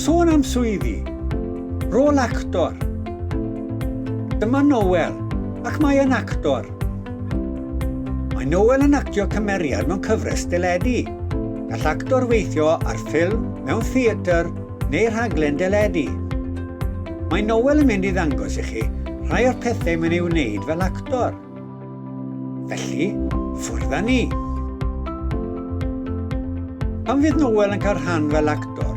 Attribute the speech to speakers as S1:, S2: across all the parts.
S1: Sôn am swyddi, rôl actor. Dyma Noel, ac mae yn actor. Mae Noel yn actio cymeriad mewn cyfres deledu. Gall actor weithio ar ffilm, mewn theatr neu rhaglen deledu. Mae Noel yn mynd i ddangos i chi rhai o'r pethau mae'n ei wneud fel actor. Felly, ffwrdd â ni! Pan fydd Noel yn cael rhan fel actor,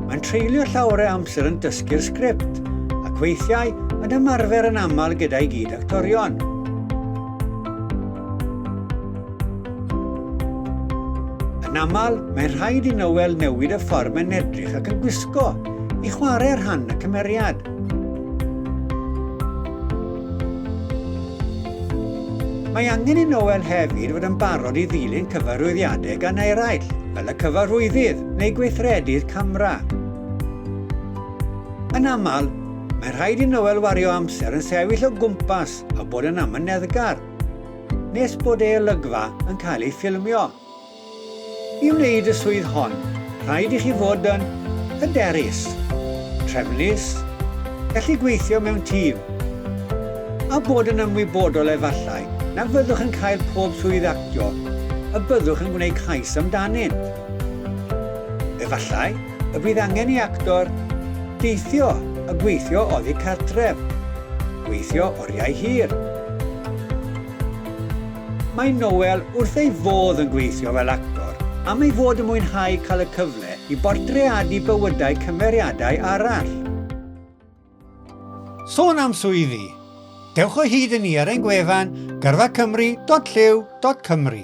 S1: mae'n treulio llawer o amser yn dysgu'r sgript ac weithiau yn ymarfer yn aml gyda'i gyd actorion. Yn aml, mae'n rhaid i Noel newid y ffordd mae'n edrych ac yn gwisgo i chwarae rhan y cymeriad. Mae angen i Noel hefyd fod yn barod i ddilyn cyfarwyddiadau gan eraill, fel y cyfarwyddyd neu gweithredu'r camera. Yn aml, mae'n rhaid i Noel wario amser yn sefyll o gwmpas a bod yn amyneddgar, nes bod ei olygfa yn cael ei ffilmio. I wneud y swydd hon, rhaid i chi fod yn hyderus, trefnus, gallu gweithio mewn tîm, a bod yn ymwybodol efallai na fyddwch yn cael pob swydd actio y byddwch yn gwneud cais amdanynt. Efallai y bydd angen i actor deithio a gweithio oddi cartref, gweithio oriau hir. Mae Noel wrth ei fodd yn gweithio fel actor am ei fod yn mwynhau cael y cyfle i bortreadu bywydau cymeriadau arall. Sôn am swyddi, dewch o hyd i ni ar ein gwefan gyrfacymru.llyw.cymru.